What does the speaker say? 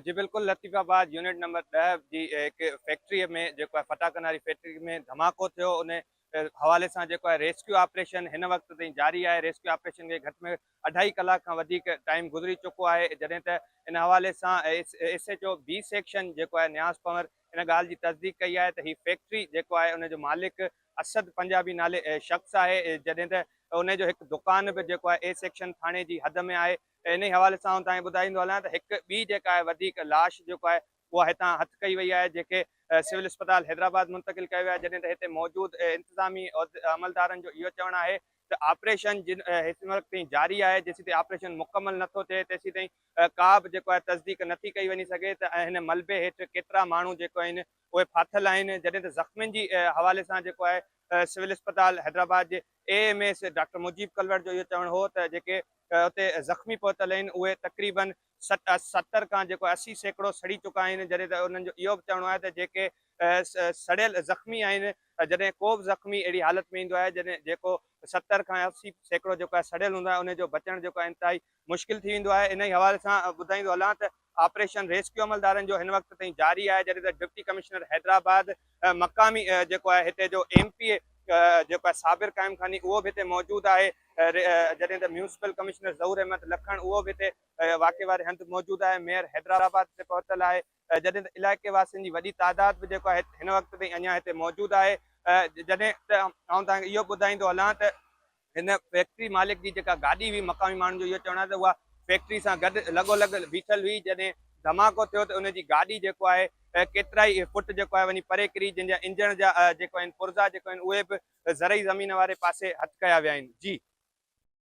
جي بلڪل Latifabad unit number ڏهه جي هڪ فيڪٽري ۾ جيڪو آهي ڦٽاڪن واري فيڪٽري ۾ ڌماڪو ٿيو ان حوالي سان جيڪو آهي ريسڪيو آپريشن هن وقت تائين جاري آهي ريسڪيو آپريشن کي گهٽ ۾ اڍائي ڪلاڪ کان وڌيڪ ٽائيم گذري چڪو آهي جڏهن ته ان حوالي سان S H O B section جيڪو آهي نياز پنور ان ڳالهه جي تصديق ڪئي آهي ته هي فيڪٽري جيڪو آهي ان جو مالڪ اسد پنجابي نالي شخص آهي جڏهن ته ان جو هڪ دڪان به جيڪو آهي اي سيڪشن ٿاڻي جي حد ۾ آهي انهي حوالي سان آئون توهانکي ٻڌائيندو هلان ته هڪ ٻي جيڪا آهي وڌيڪ لاش جيڪو آهي اها هتان هٿ ڪئي وئي آهي جنهن کي سول اسپتال حيدرآباد منتقل ڪيو ويو آهي جڏهن ته هتي موجود انتظامي عملدارن جو اهو چوڻ آهي ته آپريشن جن هيسين وقت تائين جاري آهي جيسين تائين آپريشن مڪمل نٿو ٿئي تيسين تائين ڪا به جيڪو آهي تصديق نٿي ڪئي وڃي سگهي ته هن ملبي هيٺ ڪيترا ماڻهو جيڪو آهن اهي ڦاٿل آهن جڏهن ته زخمين جي حوالي سان جيڪو آهي سول اسپتال حيدرآباد جي A M A C doctor Mujeeb ڪلوڙ جو اهو چوڻ هو ته جيڪي اتي زخمي پهتل آهن اهي تقريباً ستر کان جيڪو اسي سيڪڙو سڙي چڪا آهن جڏهن ته انهن جو اهو به چوڻو آهي ته جيڪي سڙيل زخمي آهن جڏهن ڪو به زخمي اهڙي حالت ۾ ايندو آهي جيڪو ستر کان اسي سيڪڙو جيڪو آهي سڙيل هوندو آهي ان جو بچڻ جيڪو آهي انتهائي مشڪل ٿي ويندو آهي انهي حوالي سان ٻڌائيندو هلان ته آپريشن ريسڪيو عملدارن جو هن وقت تائين جاري آهي جڏهن ته ڊپٽي ڪمشنر حيدرآباد مقامي جيڪو آهي هتي جو ايم پي اي جيڪو آهي صابر قائم خاني اهو به هتي موجود آهي جڏهن ته ميونسپل ڪمشنر ظهور احمد لکڻ اهو به هتي واقعي واري هنڌ موجود آهي ميئر حيدرآباد هتي پهتل آهي جڏهن ته علائقي واسين جي وڏي تعداد به جيڪو آهي هن وقت تائين اڃان هتي موجود آهي جڏهن ته آئون توهان کي اهو ٻڌائيندو هلان ته هن فيڪٽري مالڪ جي جيڪا گاڏي هئي مقامي ماڻهن جو اهو چوڻ آهي ته اها فيڪٽري سان گڏ لڳو لڳ بيٺل هئي جڏهن ڌماڪو ٿيو ته ان جي گاڏي جيڪو آهي ڪيترائي فٽ جيڪو آهي وڃي پري ڪري جن جا انجڻ جا جيڪو آهن پرزا جيڪو آهن اهي به زرعي زمين واري پاسي هٿ ڪيا ويا آهن جي